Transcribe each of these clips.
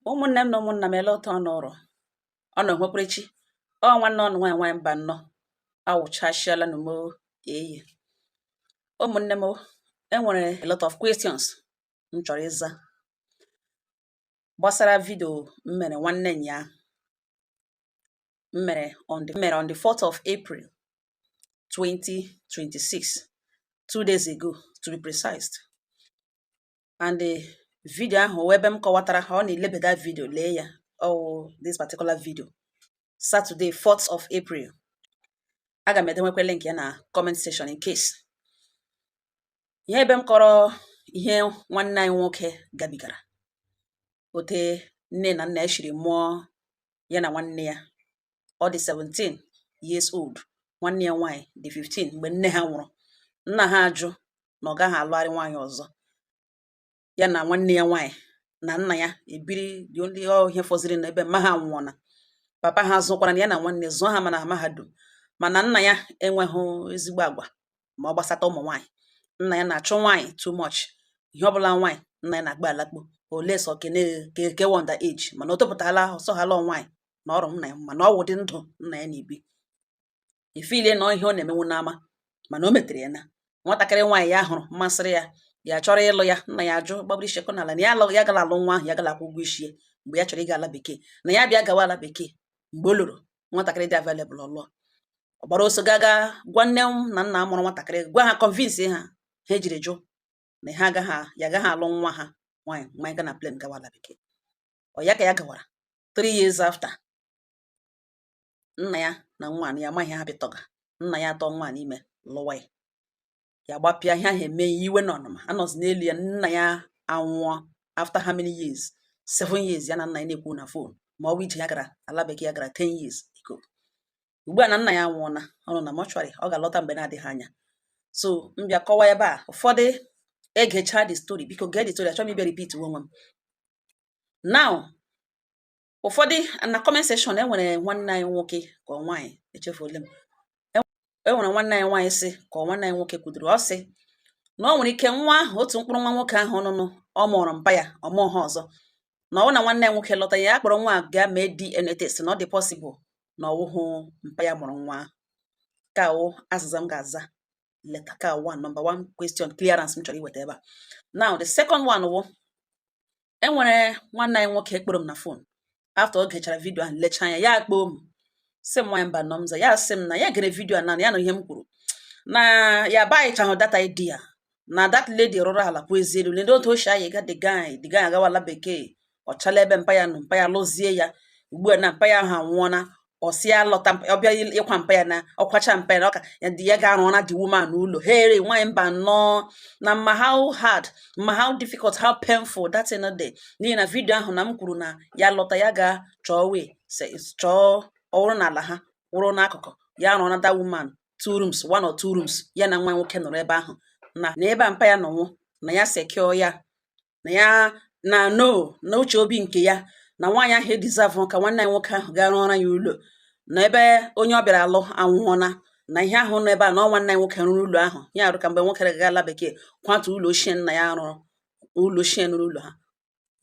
ụmụnne m na ụmụnna m ele otu ọ nọrọ ọnụ nwekwere chi ọ nwanne ọnụ nwaanyị nwaanyị Mbanọ awụchasịala na mo eyi ụmụnne m enwere a lot of questions m chọrọ ịza gbasara vidio m mere nwanne nyaahụ m mere on the 4th of April 2026 two days ago to be precise and the video ahụ wụ ebe m kọwatara ha ọ na-elebeda video lee ya ọwụ this particular video Saturday 4th of April aga m edenwekwa link ya na comment section in case ihe ebe m kọrọ ihe nwanne anyị nwoke gabigara ote nne na nna ya shiri mụọ ya na nwanne ya ọ dị 17 years old nwanne ya nwaanyị dị 15 mgbe nne ha nwụrụ nna ha ajụ na ọ gaghị alụgharị nwaanyị ọzọ ya na nwanne ya nwaanyị na nna ya ebiri dị ndị ọhịa fọziri na ebe mma ha nwụọna papa ha zụkwara na ya na nwanne zụọ ha ma na mahadum mana nna ya enweghị ezigbo agwa ma ọ gbasata ụmụ nwaanyị nna ya na-achụ nwaanyị too much ihe ọbụla nwaanyị nna ya na-agba alakpo unless ọ ka wụ under age mana o topụtala ọsọghala nwaanyị na ọrụ nna ya mana ọ wụ ụdị ndụ nna ya na-ebi ifilie na ihe ọ na-emenwu n'ama mana o metere ya na nwatakịrị nwaanyị ya hụrụ masịrị ya ya chọrọ ịlụ ya nna ya ajụ gbagburu ichekọ n'ala na ya alụghị ya gara alụ nwa ahụ ya gara akwụ ụgwọ ishi ya mgbe ya chọrọ ịga ala bekee na ya bịa gawa ala bekee mgbe ọ lọrọ nwatakịrị dị available ọ lụọ ọ gbara ọsọ gaga gwa nne na nna mụrụ nwatakịrị gwa ha convince ha ha ejiri jụ na ha agaghị ya agaghị alụ nwa ha nwaanyị nwa anyị ga na plane gawa ala bekee ọ ya ka ya gawara three years after nna ya na nwaanyị ya amaghị ha bịtọga nna ya atụọ nwaanyị ime lụwa ya ya gbapịa ihe ahụ eme ya iwe na ọnụma anọzi n'elu ya nna ya anwụọ after how many years seven years ya na nna ya na-ekwu na phone ma ọ bụ ije ya gara ala bekee ya gara ten years ago ugbu a na nna ya anwụọla ọ nọ na mortuary ọ ga-alọta mgbe na-adịghị anya so m bịa kọwa ebe a ụfọdụ egechaa the story biko gee the story achọghị m ịbịa repeat onwe m now ụfọdụ na comment section e nwere nwanne anyị nwoke ka ọ nwaanyị echefule m e, e nwere nwanne anyị nwaanyị sị ka ọ nwanne anyị nwoke kwudoro ọ sị na ọ nwere ike nwa ahụ otu mkpụrụ nwa nwoke ahụ ọnụnụ ọ mụrụ mpa ya ọ mụọ ha ọzọ na ọ wụ na nwanne anyị nwoke lọta ya akpọrọ nwa gaa mee DNA test na ọ dị possible na ọwụhụ mpa ya mụrụ nwa nke a wụ azịza m ga-aza later nke a wụ number one question clearance m chọrọ iweta ebe a now the second one wụ enwere nwanne anyị nwoke kpọrọ m na phone after o gechara vidio ahụ lechaa anya ya akpọọ m sị m nwanyị Mbanọ m za ya sị m na ya gere vidio na ya na ihe m kwuru na ya buychahụ that idea na that lady rụrụ ala pụ ezi elu lede otu o shi anyị ga the guy the guy agawala bekee ọchala ebe mpa ya nọ mpa ya lụzie ya ugbu a na mpa ya ahụ anwụọna ọ sị ya lọta ọ bịa ịkwa mpa ya na ọ kwacha mpa ya na ọ ka ya dị ya ga-arụ na the woman n'ụlọ here nwaanyị mba nnọọ na m ma how hard m ma how difficult how painful that thing dị n'ihi na vidio ahụ na m kwuru na ya lọta ya ga chọọ wee chọọ ọ wụrụ n'ala ha wụrụ n'akụkụ ya rụọ na that woman two rooms one or two rooms ya na nwa nwoke nọrọ ebe ahụ na na ebe a mpa ya nọ nwụọ na ya secure ya na ya na no na uche obi nke ya na nwaanyị ahụ edeserve ka nwanne anyị nwoke ahụ gaa rụọra ya ụlọ na ebe onye ọ bịara alụ anwụọna na ihe ahụ nọ ebe a na ọ nwanne anyị nwoke rụrụ ụlọ ahụ ya arụ ka mgbe nwoke ga ala bekee kwatu ụlọ ochie nna ya rụrụ ụlọ ochie nụrụ ụlọ ha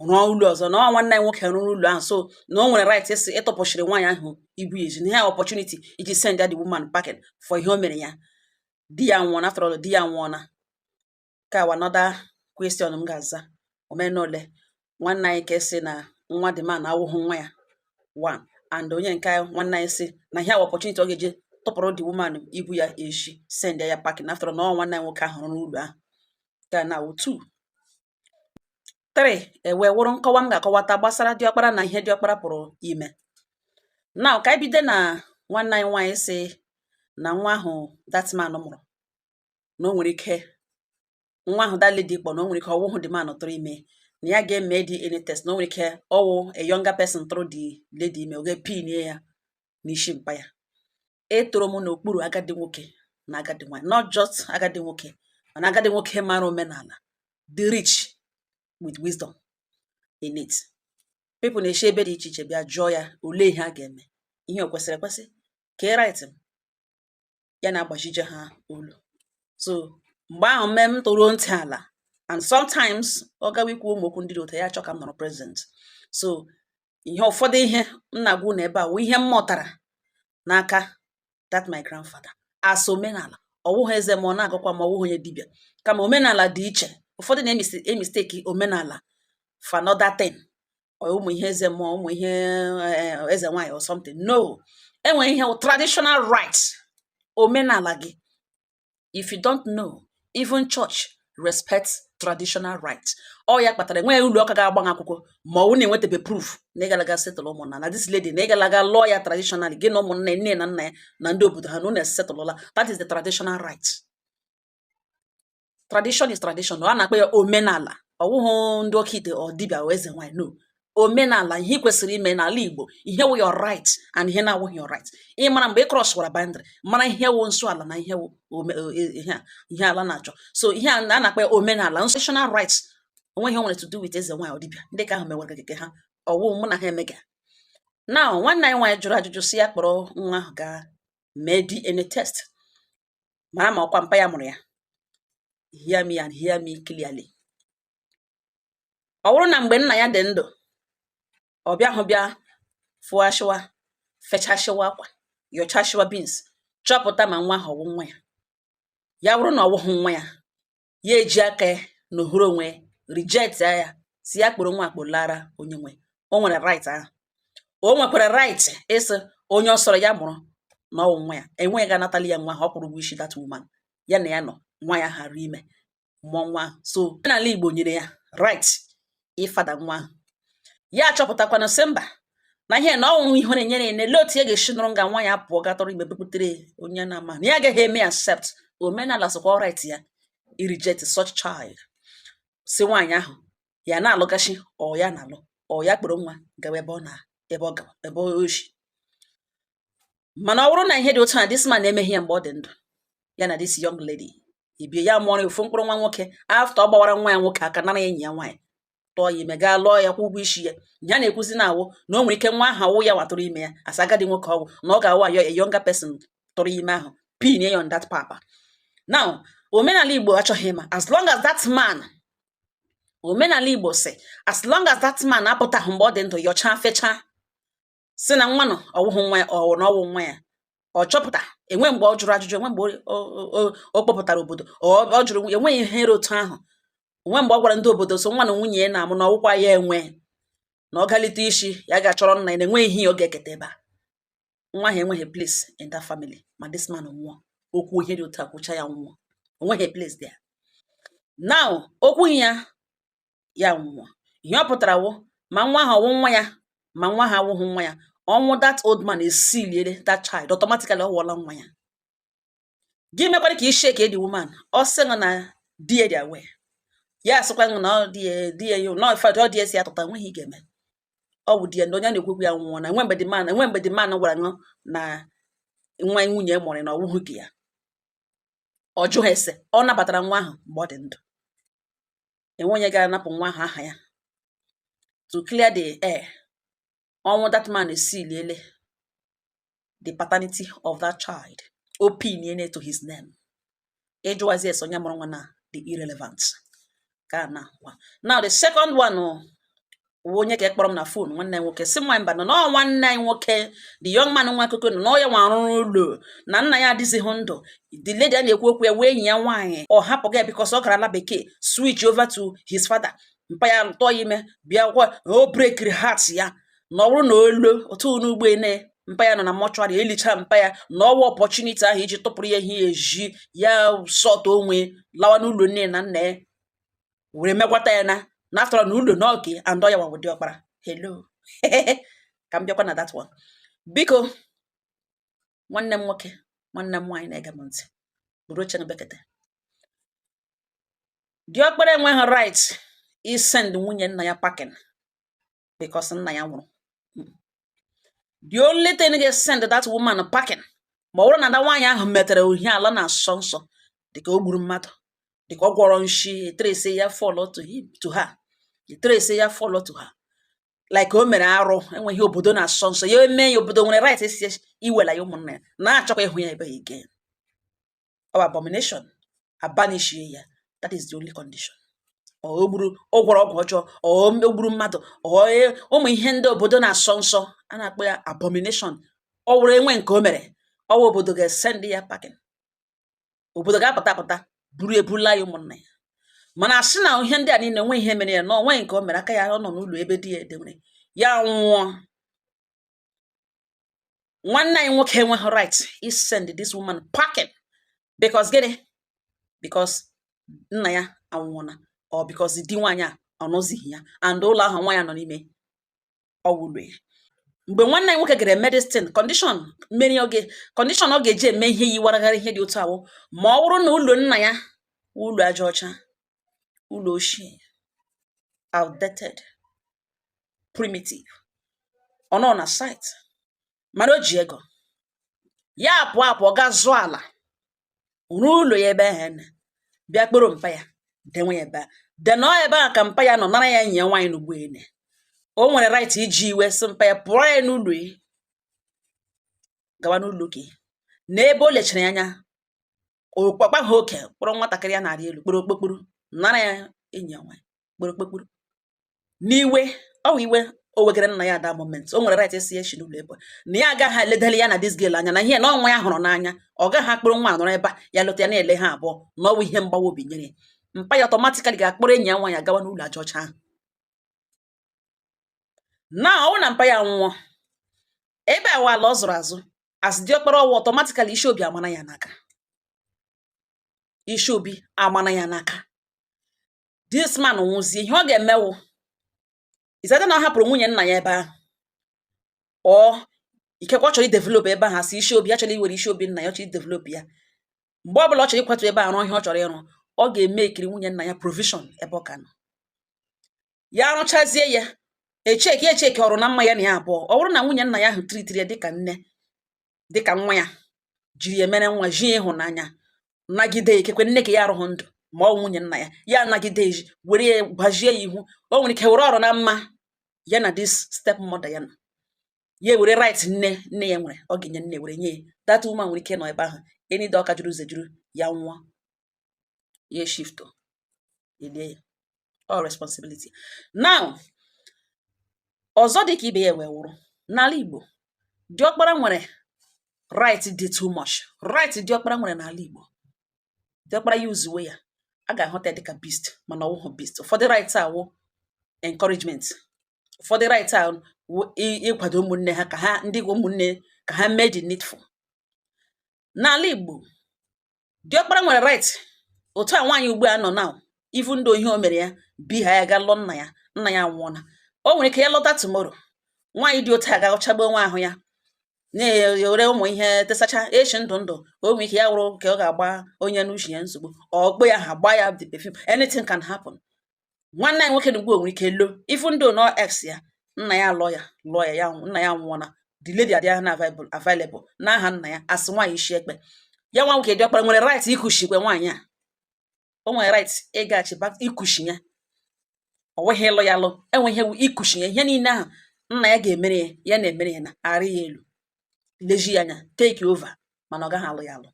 rụọ ụlọ ọzọ na ọ nwanne anyị nwoke rụrụ ụlọ ahụ so na o nwere rights ịtụpụsiri nwaanyị ahụ ibu ya ezi na ihe opportunity iji send ya the woman packing for ihe o mere ya di ya anwụọna after all di ya anwụọna ka a wụ another question m ga-aza omenole nwanne anyị ka esi na nwa the man awụghị nwa ya one and onye nke anyị nwanne anyị sị na ihe a wụ opportunity ọ ga-eji tụpụrụ the woman ibu ya ezi send ya packing after na ọ nwanne anyị nwoke ahụ rụrụ ụlọ ahụ ga na awụ two three ewee wụrụ nkọwa m ga-akọwata gbasara diọkpara na ihe diọkpara pụrụ ime now ka anyị bido na nwanne anyị nwaanyị sị na nwa ahụ that man mụrụ na o nwere ike nwa ahụ that lady kpọ na o nwere ike ọ wụhụ the man tụrụ ime na ya ga-eme DNA test na o nwere ike ọ wụ a younger person tụrụ the lady ime oge pin ya n'isi mpa ya etoro m n'okpuru agadi nwoke na agadi nwaanyị not just agadi nwoke mana agadi nwoke mara omenala the rich with wisdom in it people na-esi ebe dị iche iche bịa jụọ ya olee ihe a ga-eme ihe o kwesịrị ekwesị ka e right m ya na-agbajije ha olu so mgbe ahụ mee m tọrọ ntị ala and sometimes ọ gawa ikwu ụmụ okwu ndị dị otu a ya achọọ ka m nọrọ present so ihe ụfọdụ ihe m na-agwa unu ebe a wụ ihe m mụtara n'aka that my grandfather as omenala ọ wụghị eze mmụọ na-agọkwa mmụọ ọ wụghị onye dibịa kama omenala dị iche ụfọdụ na-emistake omenala for another thing ụmụ ihe eze mmụọ ụmụ ihe eh, eze nwaanyị or something no e nwere ihe wụ traditional right omenala gị if you don't know even church respects traditional right ọ ya kpatara enweghị ụlọ ụka ga-agba akwụkwọ ma ọ wụ na enwetabe proof na ị gala ga settle ụmụnna na this lady na ị gala ga lụọ ya traditional gị na ụmụnna nne na nna ya na ndị obodo ha na unu esetụlụla that is the traditional right tradition is tradition a na-akpọ ya omenala ọwụhụ ndị oke ite or dibịa eze nwanyị no omenala ihe kwesịrị ime n'ala igbo ihe wụ your right and ihe na-awụghị your right ị mara mgbe ị crosswara boundary mara ihe wụ nsọ ala na ihe wụ e, e, ihe ala na-achọ so ihe a na-akpọ omenala traditional rights o nweghị ihe o nwere to do with eze nwaanyị or dibịa ndị ka ahụ mewara nke ha ọwụ mụ na ha emega now nwanne anyị nwaanyị jụrụ ajụjụ si ya kpọrọ nwa ahụ gaa mee DNA test mara ma ọkwa mpa ya mụrụ ya hear me and hear me clearly ọ bụrụ na mgbe nna ya dị ndụ ọ bịa hụ bịa fụọ ashịwa fechashịwa akwa yọchashịwa beans chọpụta ma nwa ahụ ọwụ nwa ya ya bụrụ na ọ wụghị nwa ya ya eji aka ya na ohuru onwe ya reject ya si ya kpọrọ nwa a kpọlaara onye nwe o nwere right ahụ o nwekwara right ịsị onye ọ sọrọ ya mụrụ na ọwụ nwa ya enweghị ị ga-anatali ya nwa ahụ ọ kwụrụ ụgwọ isi that woman ya na ya nọ nwaanyị ahụ rị ime mụọ nwa ahụ so n'ala Igbo nyere ya right ịfather nwa ahụ ya achọpụtakwanụ sị mba na ihe na ọwụ ihe na-enyere ya na-ele otu ya ga-esi nọrọ nga nwaanyị apụọ gaa tụrụ ime butere onye na-ama na ya agaghị eme accept omenala sịkwa ọ right ya ịreject such child si nwaanyị ahụ ya na-alụgachi ọ ya na-alụ ọ ya kpọrọ nwa gawa ebe ọ na ebe ọ gawa ebe o shi mana ọ bụrụ na ihe dị otu a this man na-emeghị ya mgbe ọ dị ndụ ya na this young lady ebie ya mụọrọ ofu mkpụrụ nwa nwoke after ọ gbawara nwa ya nwoke aka nara enyi ya nwaanyị tụọ ya ime gaa lụọ ya kwụ ụgwọ isi ya ya na-ekwuzi na awụ na o nwere ike nwa ahụ awụ ya wa tụrụ ime ya as a agadi nwoke ọ wụ na ọ ga-awụ a yo a younger person tụrụ ime ahụ pin ya on that papa now omenala igbo achọghị ịma as long as that man omenala igbo si as long as that man apụtaghị mgbe ọ dị ndụ yọchaa fechaa si na nwa nụ ọwụhụ nwa ya or na ọwụ nwa ya ọ chọpụta enwe mgbe ọ jụrụ ajụjụ enwe mgbe ọ kpọpụtara obodo ọ jụrụ enweghị ihe rị otu ahụ onwe mgbe ọ gwara ndị obodo sị nwa na nwunye ya na-amụ na ọwụkwa ya enwe na ọ galite isi ya ga-achọrọ nna ya na enweghị ihe ọ ga-eketa ebe a nwa ahụ enweghị place in that family ma this man nwụọ o kwuo ihe dị otu a kwuchaa ya nwụọ onweghị place there now o kwughị ya ya nwụọ ihe ọ pụtara wụ ma nwa ahụ ọwụ nwa ya ma nwa ahụ awụghị nwa ya ọnwụ that old man esealiela that child automatically ọ wụọla nwa ya gị mekwara ka ishake the woman ọ sị na di ya dị aware ya asịkwa na ọ di ya di ya na in fact ọ di ya si ya tụta nweghị ihe ị ga-eme ọ bụ di ya na onye na-ekwekwu ya nwụọ na nwe mgbe the man nwe mgbe the man gwara unu na nwa nwunye mụrụ na ọwụhụ nke ya ọ jụghị ese ọ nabatara nwa ahụ mgbe ọ dị ndụ enwe onye ga-anapụ nwa ahụ aha ya to clear the air ọnwụ that man esiliele the paternity of that child opinion to his name ịjụwazi ese onye mụrụ nwa na-adị irrelevant ka na now the second one oh, o nwe onye ka kpọrọ m na phone nwanne nwoke si nwa Mbanọ n'ọ nwanne anyị nwoke the young man nwa akụkọ nọ na ọ ya nwa rụrụ ụlọ na nna ya adịzighị ndụ the lady a na-ekwu okwu ya wụ enyi ya nwaanyị ọ hapụ ya because ọ gara ala bekee switch over to his father mpa ya tụọ ya ime bịa kwa o breakiri heart ya na ọ bụrụ na ọ lọta n'ugbo ene mpa ya nọ na mortuary elicha mpa ya na ọ wụ opportunity ahụ iji tụpụrụ ya ihe eji ya sort onwe lawa n'ụlọ nne na nna ya were megwata ya na after all na ụlọ n'oge and ọ ya wa wụ diọkpara hello ka m bịakwa na that one biko nwanne m nwoke nwanne m nwaanyị na-ege m ntị buru oche bekete diọkpara enweghị right isend nwunye nna ya packing because nna ya nwụrụ the only thing ga send that woman packing ma ọ bụrụ na na nwaanyị ahụ metere ihe ala na-asọ nsọ dịka o gburu mmadụ dịka ọ gwọrọ nshi etrace ya follow to him to her etrace ya follow to her like o mere arụ e nwee ihe obodo na-asọ nsọ ya emee ya obodo nwere right ịsị wela ya ụmụnna ya na-achọkwa ịhụ ya ebe a again ọ wụ abomination abanishie ya that is the only condition ọ gburu ọ gwọrọ ọgwụ ọjọọ ọ gburu mmadụ ọ e- ụmụ ihe ndị obodo na-asọ nsọ a na-akpọ ya abomination ọ wụrụ enwe nke o mere ọ wụ obodo ga-esend ya packing obodo ga-apụta apụta buru ya bula ya ụmụnna ya mana asị na ihe ndị a niile nwe ihe mere ya na o nwe nke o mere aka ya ọ nọ n'ụlọ ebe di ya dewere ya nwụọ nwanne anyị nwoke enweghị right isend this woman packing because gịnị because nna ya anwụọna or because di nwaanyị a anọzighị ya and ụlọ ahụ nwaanyị a nọ n'ime ọ wụ ụlọ ya mgbe nwanne anyị nwoke gara eme this thing condition mmeri oge condition ọ ga-eji eme ihe yiwaragharị ihe dị otu a wụ ma ọ bụrụ na ụlọ nna ya ụlọ aja ọcha ụlọ ochie outdated primitive ọ nọ na site mana o ji ego ya pụọ apụ gaa zụọ ala rụọ ụlọ ya ebe ahụ na bịa kpọrọ mpa ya dewe ya ebe a then ọ ebe a ka mpa ya nọ nara ya enyi nwaanyị n'ugbo ene o nwere right iji iwe sị mpa ya pụọ ya n'ụlọ ya gawa n'ụlọ gị n'ebe o lechara ya anya okpakpa ha oke kpọrọ nwatakịrị a na-arị elu kporo okpokporo nara ya enyi ya nwaanyị kporo okpokporo n'iwe ọ wụ iwe o wegara nna ya at that moment o nwere right esi echi n'ụlọ ebe na ya agaghị eledali ya na this girl anya na ihe na ọ nwa ya hụrụ n'anya ọ gaghị akpọrọ nwa nọrọ ebe a ya lọta ya na-ele ha abụọ na ọwụ ihe mgbawa obi nyere ya mpa ya automatically ga-akpọrọ enyi ya nwaanyị gawa n'ụlọ aja ọcha ahụ na ọwụ na mpa ya nwụọ ebe a wụ ala ọ zụrụ azụ as diọkpara ọwụ automatically isi obi amana ya n'aka isi obi amana ya n'aka this man nwụzie ihe ọ ga-eme wụ is that na ọ hapụrụ nwunye nna ya ebe ahụ ọ ikekwe ọ chọrọ idevelop ebe ahụ as isi obi ya chọrọ iwere isi obi nna ya ọ chọrọ idevelop ya mgbe ọ bụla ọ chọrọ ịkwatu ebe a rụọ ihe ọ chọrọ ịrụ ọ ga-emekiri nwunye nna ya provision ebe ọ ga-anọ ya arụchazie ya echeki echeki ọrụ na mma ya na ya abụọ ọ bụrụ na nwunye nna ya ahụ tritiri ya dịka nne dịkà nwa ya jiri ya mere nwa ji ịhụnanya nagide ikekwe nne nke ya arụghị ndụ ma ọ wụ nwunye nna ya ya anagide eji were ya gbajie ya ihu o nwere ike were ọrụ na mma ya na this step mother ya na ya were right nne nne ya nwere ọ ga-enye nne were nye ya that woman nwere ike ịnọ ebe ahụ enide ọka juru ụzọ juru ya nwụọ ya eshifto elie ya ọ responsibility now ọzọ dị ka ibe ya wee wụrụ n'ala Igbo diọkpara nwere right dị too much right diọkpara nwere n'ala Igbo diọkpara ya yuzuwe ya a ga-ahụta dịka beast mana ọwụhụ beast ụfọdụ right a wụ encouragement ụfọdụ right a wụ ịkwado ụmụnne ha ka ha ndị ụmụnne ka ha mee the needful n'ala Igbo diọkpara nwere right otu a nwaanyị ugbu a nọ na even though ihe o mere ya bi ha ya ga lụọ nna ya nna ya nwụọna o nwere ike ya lọta tomorrow nwaanyị dị otu a ga-achagbu onwe ahụ ya na-ewere ụmụ ihe tesacha eshi ndụ ndụ o nwere ike ya wụrụ ka ọ ga-agba onye n'uche ya nsogbu ọkpụ ya ha gbaa ya the perfume anything can happen nwanne anyị nwoke na ugbu a nwere ike lo even though na ọ ex ya nna ya lụọ ya lụọ ya ya nwụ- nna ya nwụọ na the lady adịghị na available available n'aha nna ya as nwaanyị isi ekpe ya nwa nwoke diọkpara nwere right ikuchikwa nwaanyị a o nwere right ịgaghachi back ikuchi ya ọ wụghị ịlụ ya alụ ọ wụ ikuchi ya ihe niile ahụ nna ya ga-emere ya ya na-emere ya na-arị ya elu leji ya anya take over mana ọ gaghị alụ ya alụ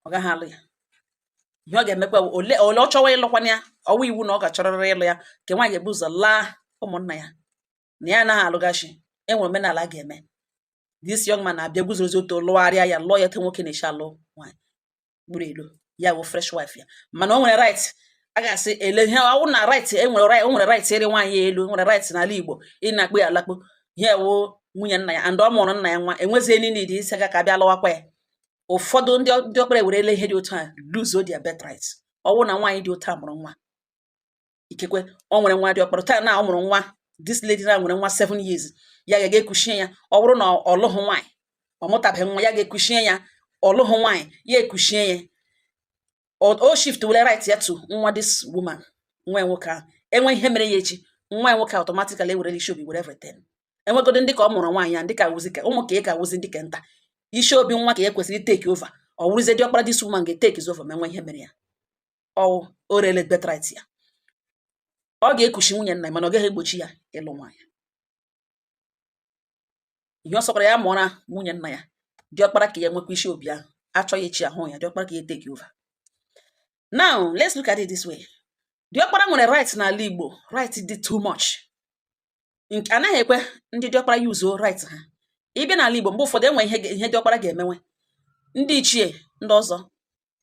ọ gaghị alụ ya ihe ọ ga-emekwa ole ole ọ chọwa ịlụkwana ya ọ wụ iwu na ọ ga-achọrịrị ịlụ ya nke nwaanyị ga-ebu ụzọ laa ụmụnna ya na ya anaghị alụghachi enwere omenala a ga-eme this young man na-abịa guzorozie ọtọ lụgharịa ya lụọ ya etu nwoke na-eshi alụ nwaanyị gburu elu ya wụ fresh wife ya mana o nwere right a ga-asị ele ihe ọwụ na right enwere right o nwere right ịrị nwaanyị ya elu nwere right n'ala Igbo ịna-akpụ ya alakpo ihe wụ nwunye nna ya and ọ mụrụ nna ya nwa enwezie niile dị isi aka ka bịa lụwakwa ya ụfọdụ ndị diọkpara werele ihe dị otu a lose their birthright ọwụ na nwaanyị dị otu a mụrụ nwa ikekwe o nwere nwa diọkpara taa na ọ mụrụ nwa this lady na nwere nwa seven years ya ga-ekuchie ya ọ bụrụ na ọ lụghị nwaanyị ọ mụtabeghị nwa ya ga-ekuchie ya ọ lụghị nwaanyị ya ekuchie ya o shiftuola right ya to nwa this woman nwa nwoke ahụ enwe ihe mere ya echi nwa nwoke automatically ewerela isi obi were everything enwegodo ndị ka ọ mụrụ nwaanyị ya ndị ka wụzi ka ụmụ ka ị ka wụzi ndị ka nta isi obi nwa ka ya kwesịrị take over ọ wụrụzie diọkpara this woman ga-etake over ma enwe ihe mere ya ọwụ o rele birthright ya ọ ga-ekuchi nwunye nna ya mana ọ gaghị egbochi ya ịlụ nwaanyị ihe ọ sọkwara ya mụọra nwunye nna ya diọkpara ka ya nwekwa isi obi ahụ a chọọ ya echi ahụ ya diọkpara ka ya take over now let's look at it this way diọkpara nwere right n'ala Igbo right dị too much nke anaghị ekwe ndị diọkpara yuzuo right ha ị bịa n'ala Igbo mgbe ụfọdụ enwe ihe ga- ihe diọkpara ga-emenwe ndị ichie ndị ọzọ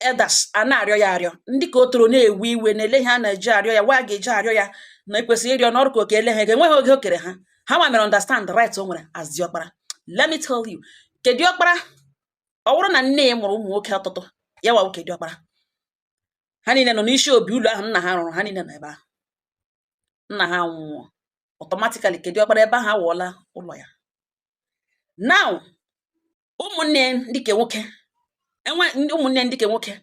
elders a na-arịọ ya arịọ ndị ka o toro na-ewe iwe na-ele ihe a na-eji arịọ ya wa a ga-eji arịọ ya na ekwesịrị ịrịọ n'ọrụ ka oke ele ha ego enweghị oge o kere ha ha ma mere understand the right o nwere as diọkpara let me tell you ke diọkpara ọ bụrụ na nne ya mụrụ ụmụ nwoke ọtụtụ ya wa wụ ke diọkpara ha niile nọ n'isi obi ụlọ ahụ nna ha rụrụ ha niile nọ ebe ahụ nna ha nwụọ automatically ke diọkpara ebe ahụ awụọla ụlọ ya now ụmụnne ndị ke nwoke ụmụnne ndị ke nwoke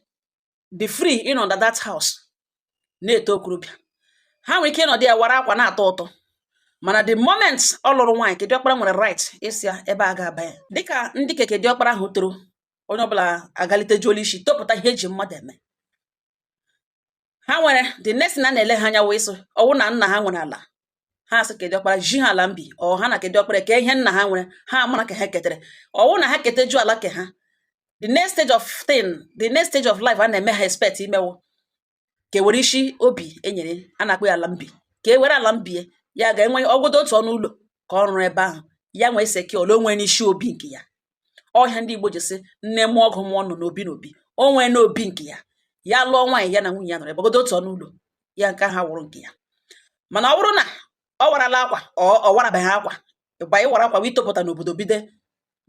dị free ịnọ under that house na-eto okorobịa ha nwere ike ịnọdụ ya wara akwa na-atọ ụtọ mana the moment ọ lụrụ nwaanyị ke diọkpara nwere right ịsị ya ebe a ga-aba ya dịka ndị ke diọkpara ahụ toro onye ọbụla agalitejuola isi topụta ihe eji mmadụ eme ha nwere the next thing a na-ele ha anya wee sị ọwụ na nna ha nwere ala ha sị ke diọkpara ji ha ala mbi ọ ha na ke diọkpara kee ihe nna ha nwere ha mara ka ha ketere ọwụ na ha keteju ala ke ha the next stage of thing the next stage of life a na-eme ha expect ime wụ ka ewere isi obi enyere a na-akpọ ya ala mbi ka e were ala mbi ya ga-enwe ọ wụgodo otu ọnụ ụlọ ka ọ rụrụ ebe ahụ ya nwee seke ole onwe n'isi obi nke ya ọ ihe a ndị Igbo ji sị nne mụọ ọgụ mụọ nnụ n'obi n'obi o nwee n'obi nke ya ya lụọ nwaanyị ya na nwunye ya nọrọ ọ bụgodo otu ọnụ ụlọ ya nke ahụ awụrụ nke ya mana ọ bụrụ na ọ warala akwa ọ warabeghị akwa ịgba ịwara akwa wụ itopụta n'obodo bido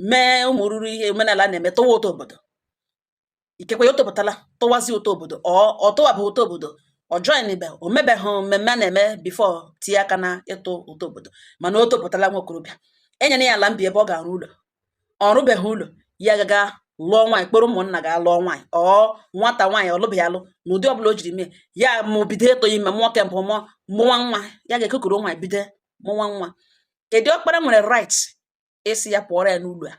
mee ụmụ ruru ihe omenala na-eme tụwa ụtụ obodo ikekwe ya o topụtala tụwazi ụtụ obodo ọ ọ tụwabụ ụtụ obodo ọ joinibe o mebeghị mmemme a na-eme before tinye aka na ịtụ ụtụ obodo mana o topụtala nwa okorobịa e nyere ya ala mbi ebe ọ ga-arụ ụlọ ọ rụbeghị ụlọ ya gaga lụọ nwaanyị kpọrọ ụmụnna ga lụọ nwaanyị or nwata nwaanyị ọ lụbeghị alụ n'ụdị ọbụla o jiri mee ya ma o bido ịtụ ime mụọ ke mbụ mụọ mụwa nwa ya gaga kuru nwaanyị bido mụwa nwa ke diọkpara nwere right ịsị ya pụọrọ ya n'ụlọ a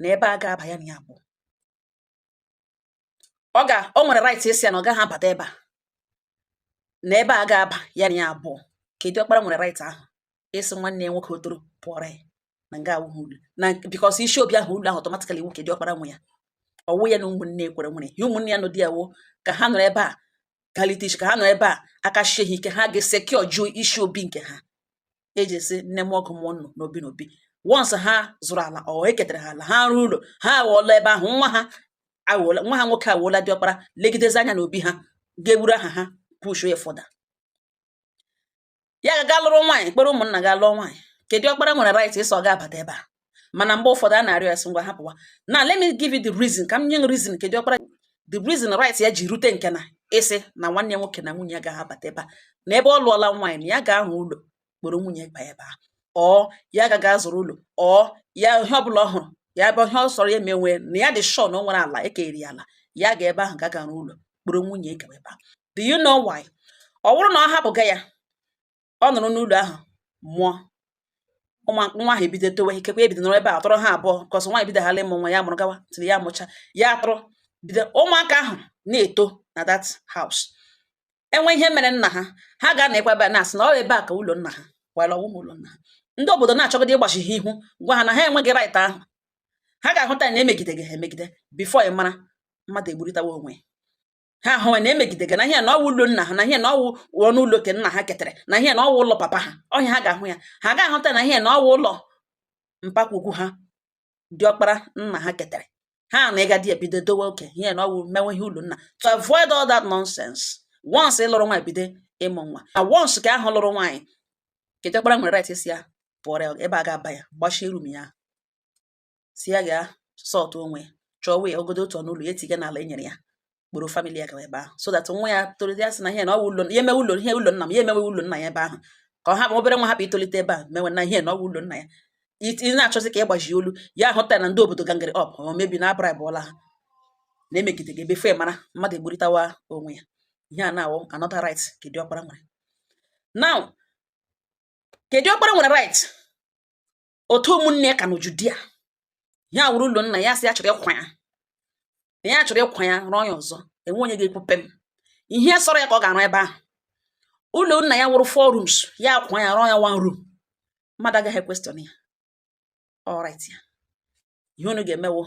na ebe a agaghị aba ya na ya bụ ọ ga o nwere right ịsị ya na ọ gaghị abata ebe a na ebe a agaghị aba ya na ya abụọ ke diọkpara nwere right ahụ ịsị nwanne ya nwoke ọ tọrọ pụọrọ ya na nga awụghị ụlọ na because isi obi ahụ ụlọ ahụ automatically nwoke diọkpara nwe ya ọ wụ ya na ụmụnne ekwere nwere ya ụmụnne ya nọ di ya wo ka ha nọrọ ebe a kalite ka ha nọ ebe a aka shie ha ike ha ga-esekio jụọ isi obi nke ha ka eji esi nne m ọgụ mụọ nnụ n'obi n'obi once ha zụrụ ala or e ketara ha ala ha rụọ ụlọ ha awụola ebe ahụ nwa ha awụola nwa ha nwoke awụola diọkpara legidezi anya n'obi ha ga-eburu aha ha pushuo ya further ya ga-aga lụrụ nwaanyị kpọrọ ụmụnna ga lụọ nwaanyị ke diọkpara nwere right ịsị ọ gaghị abata ebe a mana mgbe ụfọdụ a na-arịọ ya sị ngwa hapụwa now let me give you the reason ka m nye reason ke diọkpara the reason right ya ji rute nke na ịsị na nwanne ya nwoke na nwunye ya gaghị abata ebe a na ebe ọ lụọla nwaanyị na ya ga-arụ ụlọ kpọrọ nwunye ba ebe a or ya gaga zụrụ ụlọ or ya ihe ọbụla ọ hụrụ ya ebe ihe ọ sọrọ ya emenwe na ya dị sure na o nwere ala e kere ala ya ga ebe ahụ gaga rụọ ụlọ kpọrọ nwunye gaba ebe a do you know why ọ bụrụ na ọ hapụga ya ọ nọrọ n'ụlọ ahụ mụọ ụmụ nwa ahụ ebido towe ikekwe ebido nọrọ ebe a tọrọ ha abụọ kọsọ nwaanyị bido hala ịmụ nwa ya mụrụ gawa till ya mụcha ya atụrụ bido ụmụaka ahụ na-eto na that house e nwee ihe mere nna ha ha ga-anọkwa ebe a na-asị na ọ ebe a ka ụlọ nna ha while ọ wụghị ụlọ nna ha ndị obodo na-achọgide ịgbachi ha ihu gwa ha na ha enweghị right ahụ ha ga-ahụta na emegidega ha emegide before ị mara mmadụ egburịtawa onwe ha ahụwa na emegidega na ihe na ọwụ ụlọ nna ha na ihe na ọwụ ọnụ ụlọ ke nna ha ketara na ihe na ọwụ ụlọ papa ha ọhịa ha ga-ahụ ya ha ga-ahụta na ihe na ọwụ ụlọ mpa ukwu ha diọkpara nna ha ketara ha na ịga di ebido dọwa oke ihe na ọwụ mewe ihe ụlọ nna to avoid all that nonsense once ị lụrụ nwaanyị bido ịmụ nwa na once ke ahụ lụrụ nwaanyị ke diọkpara nwere right ịsị ya pụọrọ ebe a ga-aba ya gbachie room ya sị ya gaa sort onwe ya chọọ wee ogodo otu ọnụ ụlọ ya etiga n'ala e nyere ya kpọrọ family ya gawa ebe ahụ so that nwa ya tolite ya sị na ihe na ọ ụlọ ya emewe ụlọ ihe ụlọ nna m ya emewe ụlọ nna ya ebe ahụ ka ọ hapụ obere nwa ahụ itolite ebe a mewe na ihe na ọ ụlọ nna ya ị na-achọzi ka ị gbaji olu ya ahụta na ndị obodo gangere up or maybe na a braịbụọla ha na-emegide gị before ị mara mmadụ egburịtawa onwe ya ihe a na-awụ another right ke diọkpara nwere now ke diọkpara nwere right otu ụmụnne ya ka n'uju dị ya wụrụ ụlọ nna ya sị ya chọrọ ịkwa ya na ya chọrọ ịkwa ya rụọ ya ọzọ enwe onye ga-ekwupe m ihe sọrọ ya ka ọ ga-arụ ebe ahụ ụlọ nna ya wụrụ four rooms ya kwa ya rụọ ya one room mmadụ agaghị equestion ya ọ right ya ihe unu ga-eme wụ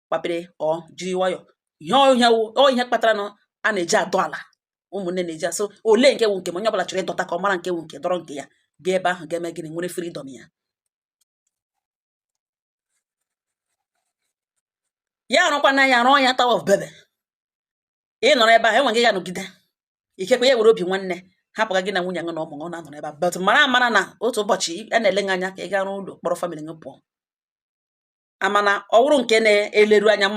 kpapere ọ jiri nwayọ ihe ọ ya wụ ihe kpatara na a na-eji adọ ala ụmụnne na-eji asị olee nke wụ nke m onye ọbụla chọrọ ịdọta ka ọ mara nke wụ nke dọrọ nke ya gaa ebe ahụ ga-eme gịnị nwere freedom ya ya arụkwana ya rụọ ya Tower of Babel ị nọrọ ebe ahụ enwe gị ga-anọgide ikekwe ya were obi nwanne hapụga gị na nwunye gị na ụmụ gị ọ na-anọrọ ebe a but mara amara na otu ụbọchị a na-ele gị anya ka ị gaa rụọ ụlọ kpọrọ family gị pụọ amana ọ wụrụ nke na-eleru anya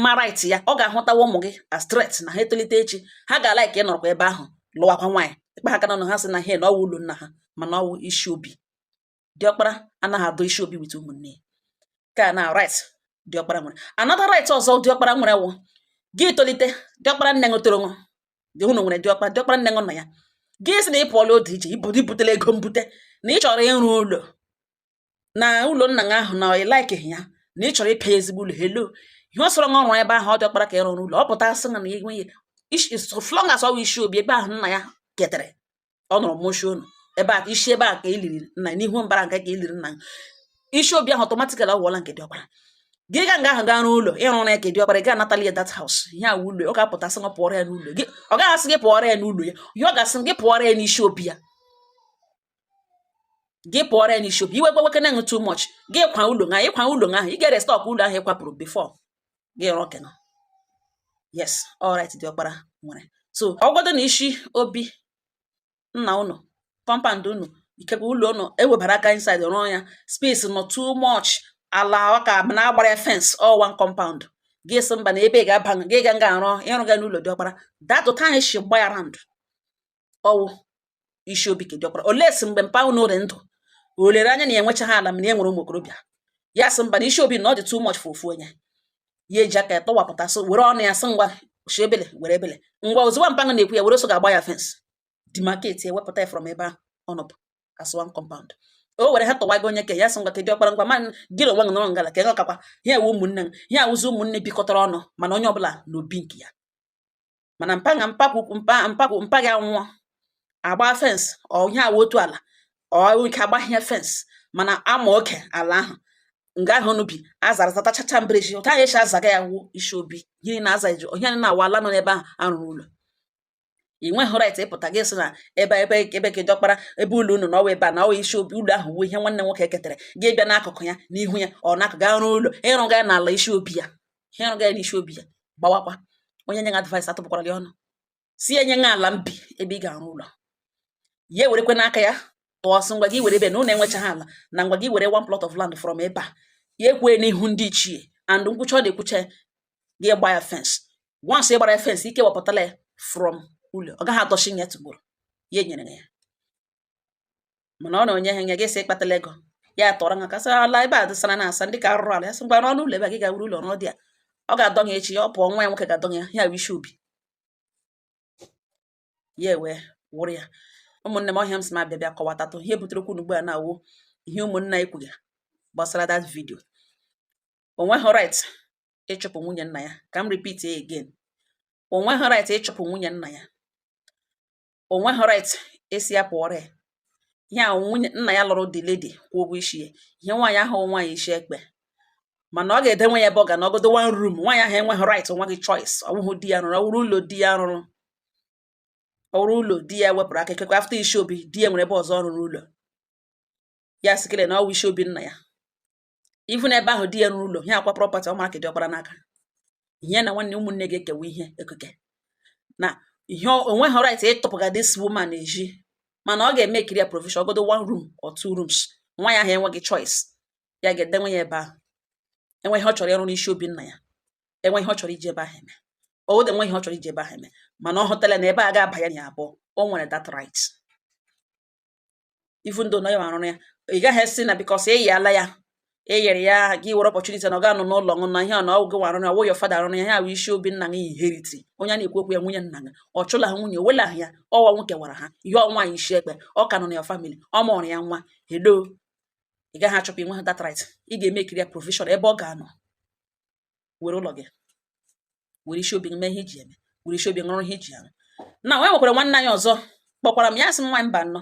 ma right ya ọ ga-ahụtawa ụmụ gị as threat na ha etolite echi ha ga-alike ịnọrọkwa ebe ahụ lụwakwa nwaanyị ị kpa ha aka n'ọnụ ha sị na ha na ọwụ ụlọ nna ha mana ọwụ isi obi diọkpara anaghị adọ isi obi with ụmụnne ya kena right diọkpara nwere another right ọzọ diọkpara nwere wụ gị tolite diọkpara nne unu tọrọ unu dị unu nwere diọkpara diọkpara nne unu nọ ya gị sị na ị pụọla otu iche i butela ego mbute na ị chọrọ ịrụ ụlọ na ụlọ nna gị ahụ na ị likeghị ya na ị chọrọ ịpịa ya ezigbo ụlọ helo ihe ọ sọrọ nwa ọrụ ebe ahụ ọ diọkpara ka ị rụ ụlọ ọ pụta asị na ya enweghị so long as ọ wụ isi obi ebe ahụ nna ya ketere ọ nọrọ mụọshi unu ebe a isi ebe a ka e liri nna n'ihu mbara nke ka e liri nna isi obi ahụ automatically ọ wụọla nke diọkpara gị ga nga ahụ gaa rụọ ụlọ ị rụ na ke diọkpara ị gaghị anatali ya that house ihe a wụ ụlọ ọ ga-apụta asị gị pụọrọ ya n'ụlọ gị ọ gaghị asị gị pụọrọ ya n'ụlọ ya ihe ọ ga-asị gị pụọrọ ya n'isi obi ya gị pụọrọ ya n'isi obi iwe gbaweke na too much gị kwa ụlọ ahụ ị kwa ụlọ ahụ ị ga-erestore ụlọ ahụ ị kwapụrụ before gị rụọ kena is a right diọkpara nwere so ọ wụgodu na isi obi nna unu compound unu ikekwe ụlọ unu e webara aka inside rụọ ya space nọ too much ala ọka na a gbara ya fence all one compound gị sị mba na ebe ị ga-aba gị ga nga arụọ ị rụga n'ụlọ diọkpara datụ ka anyị si gba ya round ọwụ isi obi ke diọkpara unless mgbe mpa unu dị ndụ o lere anya na ya enwechaghị ala mana ya nwere ụmụ okorobịa ya sị mba na isi obi na ọ dị too much for ofu onye ya eji aka ya tọwapụta so were ọnụ ya sị ngwa shi ebele were ebele ngwa ozugbo mpa gị na-ekwu ya were so ga-agba ya fence demarcate ya wepụta ya from ebe ahụ ọ nọbu as one compound o were ha tọwago onye ke ya sị ngwa ke diọkpara ngwa ma gị na onwe gị nọrọ ngala ka ị ghọtakwa ihe a wụ ụmụnne m ihe a wụzi ụmụnne bikọtara ọnụ mana onye ọbụla n'obi nke ya mana mpa gị anwụọ agba fence ọ ihe a wụ otu ala ọrụ ike agbahie fence mana ama oke ala ahụ nga ahụ unu bi azara zatachacha mbara ezi otu anyị echi azaga ya wụ isi obi gịnị na-aza ezi ọhịa na awa ala nọ n'ebe ahụ arụrụ ụlọ ị nweghị right ịpụta gị sị na ebe ka diọkpara ebe ụlọ unu na ọwa ebe a na ọwa isi obi ụlọ ahụ wụ ihe nwanne nwoke ketara gị bịa n'akụkụ ya n'ihu ya ọ na-akụ gaa rụọ ụlọ ị rụga ya n'ala isi obi ya ị rụga ya n'isi obi ya gbawakwa onye nye gị advice atụpụkwara gị ọnụ sị e nye gị ala mbi ebe ị ga-arụ ụlọ ya ewerekwa n'aka ya tụọ sị ngwa gị were ebe na ụlọ enwechaghị ala na ngwa gị were one plot of land from ebe a ya ekwee n'ihu ndị ichie and nkwucha ọ na-ekwucha gị gba ya fence once ị gbara ya fence i kewapụtala ya from ụlọ ọ gaghị atọchi ya tụgboro ya enyere ya mana ọ na o nyeghị ya gị sị ị kpatala ego ya tọrọ ha kasị ala ebe a dịsara na asa ndị ka arụrụ ala ya sị ngwa n'ọnụ ụlọ ebe a gị ga-awuru ụlọ n'ọdị a ọ ga-adọ ya echi ya ọ pụọ nwa ya nwoke ga-adọ ya ya wụ isi obi ya wee wụrụ ya ụmụnne m ọ ihe a m sị ma bịa bịa kọwatatụ ihe butere okwu ugbu a na-awụ ihe ụmụnna ekwuga gbasara that video o nweghị right ịchụpụ nwunye nna ya ka m repeat again o nweghị right ịchụpụ nwunye nna ya o nweghị right ịsị ya pụọrọ ya ihe a nwunye nna ya lụrụ the lady kwụọ ụgwọ isi ya ihe nwaanyị ahụ nwaanyị isi ekpe mana ọ ga-edenwe ya ebe ọ ga-anọ ọgodo one room nwaanyị ahụ enweghị right nweghị choice ọ bụghị di ya rụrụ ọ wụrụ ụlọ di ya rụrụ ọ wụrụ ụlọ di ya wepụrụ aka ekekwa after isi obi di ya nwere ebe ọzọ ọ rụrụ ụlọ ya sikere na ọ wụ isi obi nna ya even na ebe ahụ di ya rụrụ ụlọ ihe akwa property ọmara ka diọkpara n'aka ihe na nwanne ụmụnne ga-ekewa ihe ekike na ihe o nweghị right ịtụpụga this woman eji mana ọ ga-emekiri ya provision ọgodo one room or two rooms nwaanyị ahụ enweghị choice ya ga-edenwe ya ebe ahụ enwee ihe ọ chọrọ ịrụ n'isi obi nna ya enwee ihe ọ chọrọ iji ebe ahụ eme owode enwee ihe ọ chọrọ iji ebe ahụ eme mana ọ hụtala na ebe a ga-aba ya na abụọ o nwere that right even though na ya arụrụ ya ị gaghị asị na because e yiala ya e yere ya gị were opportunity na ọ ga-anọ n'ụlọ ṅụ na ihe a na ọ wụ gị wa rụrụ ya ọ wụ your father rụrụ ya ya wụ isi obi nna gị inheriti onye na-ekwu okwu ya nwunye nna gị ọ chụla ha nwunye wela ya ọwa nwoke wara ha ihe ọ nwaanyị isi ekpe ọ ka nọ na your family ọ mụrụ ya nwa hello ị gaghị achụpụ ị nweghị that right ị ga-emekiri ya provision ebe ọ ga-anọ were ụlọ gị were isi obi mee ihe iji eme were isi obi rụọ ihe iji arụ na nwa nwekwara nwanne anyị ọzọ kpọkwara m ya sị m nwaanyị mba nnọọ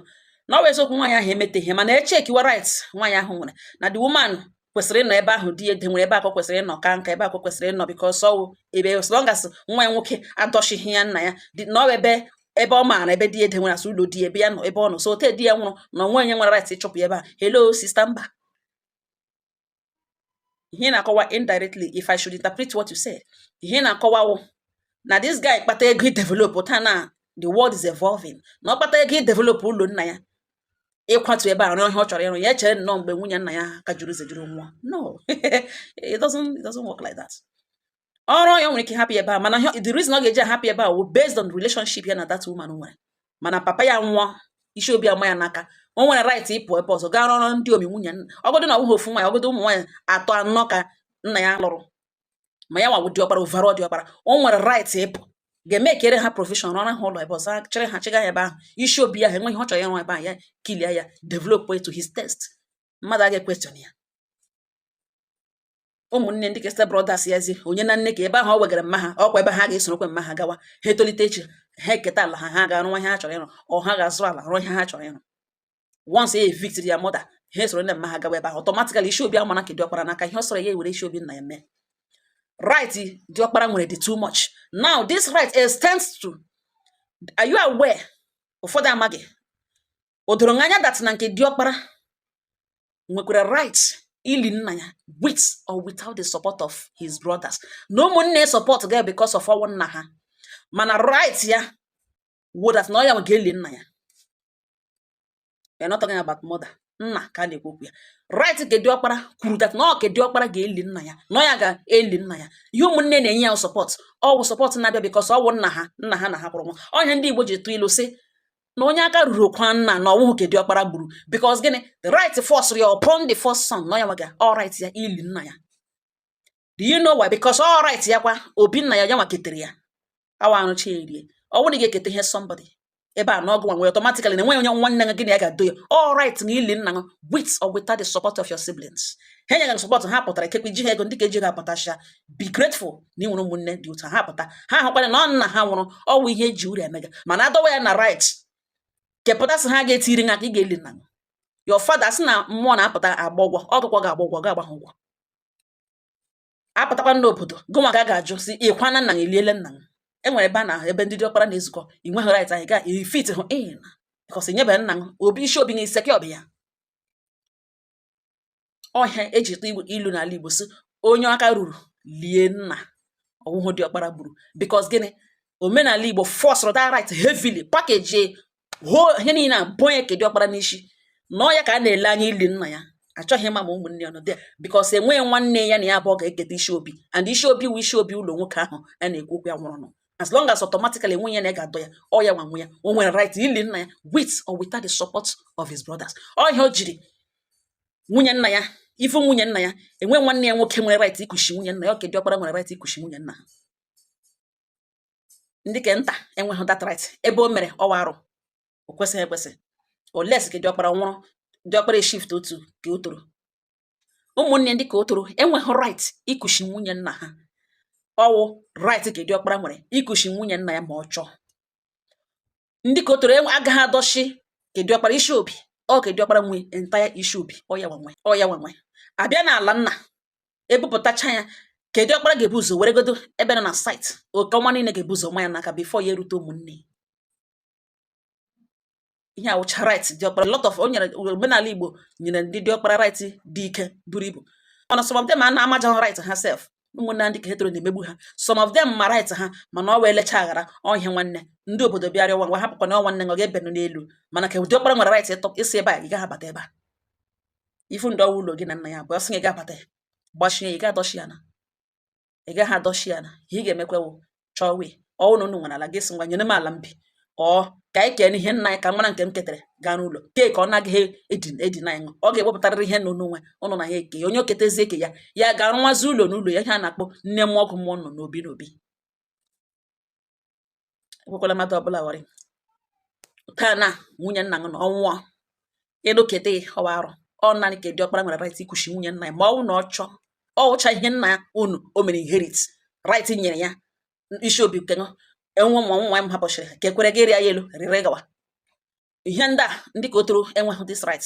na ọ bụ eziokwu nwaanyị ahụ emeteghị mana echekiwa right nwaanyị ahụ nwere na the woman kwesịrị ịnọ ebe ahụ di ya nwere ebe a ka ọ kwesịrị ịnọ ka nka ebe a ka ọ kwesịrị ịnọ because ọ wụ ebe as long as nwa ya nwoke adọchighị ya nna ya na ọ ebe ebe ọ maara ebe di ya nwere as ụlọ di ebe ya nọ ebe ọ nọ so ote di ya nwụrụ na o nweghị onye nwere right ịchụpụ ebe a hello sister mba ihe na-akọwa indirectly if I should interpret what you said ihe na-akọwa wụ na this guy kpata ego idevelop taa na the world is evolving na ọ kpata ego idevelop ụlọ nna ya ịkwatu ebe a rụọ ihe ọ chọrọ ịrụ ya echere nnọọ mgbe nwunye nna ya ka juru zejuru nwa no it doesn't it doesn't work like that ọrụ ya nwere ike hapụ ebe a mana the reason ọ ga-eji ahapụ ebe a wụ based on relationship ya na that woman nwere mana papa ya nwụọ isi obi ama ya n'aka o nwere right ịpụ ebe ọzọ gaa rụọrọ ndị omi nwunye ọgọdụ na ọbụghị ofu nwaanyị ọgọdụ ụmụ nwaanyị atọ anọ ka nna ya lụrụ ma ya nwa wụ diọkpara overall diọkpara o nwere right ịpụ gaa mekere ha provision rụọra ha ụlọ ebe ọzọ chịrị ha chịga ya ebe ahụ isi obi ya ha enweghị ọ chọrọ ịrụ ebe ahụ ya clear ya develop to his taste mmadụ aga equestion ya ụmụnne ndị ke step brothers ya zi onye na nne ka ebe ahụ ọ wegara mma ha ọkwa ebe ha ga-esorokwa mma ha gawa ha etolite echi ha eketa ala ha ha ga-arụ ihe ha chọrọ ịrụ or ha ga-azụ ala rụọ ihe ha chọrọ ịrụ once he evicted their mother ha esoro nne mma ha gawa ebe ahụ automatically isi obi amana ke diọkpara n'aka ihe ọ sọrọ ya ewere isi obi nna ya mee right diọkpara nwere dị too much now this right extends to are you aware ụfọdụ amaghị o doro m anya that na nke diọkpara nwekwara right ili nna ya with or without the support of his brothers na ụmụnne support ga because of ọnwụ nna ha mana right ya wụ that na ọ ya nwa ga-eli nna ya we are not talking about mother nna ka a na-ekwu okwu ya right nke diọkpara kwuru that na ọ ke diọkpara ga-eli nna ya na ọ ya ga-eli nna ya ihe ụmụnne na-enye ya support ọ wụ support na-abịa because ọ wụ nna ha nna ha na ha nwụrụ nwa ọ ya ndị Igbo ji tụ ilu sị na onye aka ruru kwaa nna na ọ wụhụ ke diọkpara gburu because gịnị the right force ya upon the first son na ya nwa ka ọ right ya ili nna ya do you know why because ọ right ya kwa obi nna ya ya nwa ketere ya awa arụcha erie ọ bụrụ na ị ga-eketa ihe somebody ebe a na ọ gụ nwe automatically na enweghị onye nwanne gị na ya ga-adọ ya ọ right na ili nna gị with or without the support of your siblings ha nye gị support ha pụtara ikekwe ji ha ego ndị ka eji ga-apụtacha be grateful na i nwere ụmụnne dị otu ha pụta ha hụkwara na ọ nna ha nwụrụ ọ wụ ihe e ji uru emega mana a dọwa ya na right kepụta sị ha ga-etiri aka ị ga-eli nna your father sị na mmụọ na-apụta agba ụgwọ ọ gụ ka ọ ga-agba ụgwọ ga-agba ha ụgwọ a pụtakwa n'obodo gụnwa ka a ga-ajụ sị ị kwana nna i liele nna m e nwere ebe a na ebe ndị ọkpara na-ezukọ i nweghị right anyị gaa ifit hụ ịna because nyebeghị nna m obi isi obi na iseke ọbịa ọ ihe e ji tụọ ilu n'ala Igbo sị onye aka ruru lie nna ọ wụhụ diọkpara gburu because gịnị omenala Igbo fọsụrụ that right heavily package ihe niile a bonye ke diọkpara n'isi na ọ ya ka a na-ele anya ili nna ya a chọghị ịma ma ụmụnne ya nọ dị because enweghị nwanne ya na ya abụọ ga-eketa isi obi and isi obi wụ isi obi ụlọ nwoke ahụ a na-ekwu okwu ya nwụrụnụ as long as automatically enwe onye na ga-adọ ya ọ ya nwa nwe ya o nwere right ili nna ya with or without the support of his brothers ọ ihe o jiri nwunye nna ya if nwunye nna ya enwe nwanne ya nwoke nwere right ikushi nwunye nna ya ọ ke diọkpara nwere right ikushi nwunye nna ha ndị ke nta enweghị that right ebe o mere ọ wụ arụ o kwesịghị ekwesị unless ke diọkpara nwụrụ diọkpara shift otu ka ọ tọrọ ụmụnne ndị ka ọ tọrọ enweghị right ikushi nwunye nna ha ọ wụ right ke diọkpara nwere ikushi nwunye nna ya ma ọ chọọ ndị ka ọ tọrọ agaghị adọshi ke diọkpara isi obi ọ ke diọkpara nwe entire isi obi ọ ya nwa nwe ọ ya nwa nwe a bịa n'ala nna e bupụtacha ya ke diọkpara ga-ebu ụzọ weregodo ebe nọ na site oke ọma niile ga-ebu ụzọ nwa ya n'aka before ya erute ụmụnne ihe a wụcha right diọkpara lot of o nyere omenala igbo nyere ndị diọkpara right dị ike buru ibu mana some of them anaghị amacha right ha sef ụmụnna ndị ka ha tọrọ na-emegbu ha some of them ma right ha mana ọ wụ elecha aghara ọhịa nwanne ndị obodo bịarịa ngwa hapụkwa na nwanne ọ ga-ebinụ n'elu mana ke diọkpara nwere right ịtọ ịsị ebe a ị gaghị abata ebe a ifu ndị ọ wụ ụlọ gị na nna ya bụ ọ sị gị ga-abata ya gbachie ya ị ga-adọshi ya na ị gaghị adọshi ya na ihe ị ga-emekwa wụ chọọ wee ọ wụ na unu nwere ala gị sị ngwa nyenụ m ala m bi ọ ka anyị kee ihe nna anyị ka m mara nke m ketara gaa rụọ ụlọ kee ka ọ naghị edin edina anyị ọ ga-ewepụtarịrị ihe na o nwe unu na ya eke ya onye o ketezi eke ya ya ga-arụwazi ụlọ n'ụlọ ya ihe a na-akpọ nne m ọgụ mmụọ nọ n'obi n'obi ekwekwala mmadụ ọbụla gwa gị taa na nwunye nna gị na ọ nwụọ ịnụketa ọ wụ arụ ọ naanị ke diọkpara nwere right ikushi nwunye nna ya ma ọ wụ na ọ chọọ ọ wụcha ihe nna ya unu o mere inherit right nyere ya isi obi nke enwe ma nwa m hapụchiri ka ekwere gị rịa ya elu rịrị gawa ihe ndị a ndị ka ọ tọrọ enweghị this right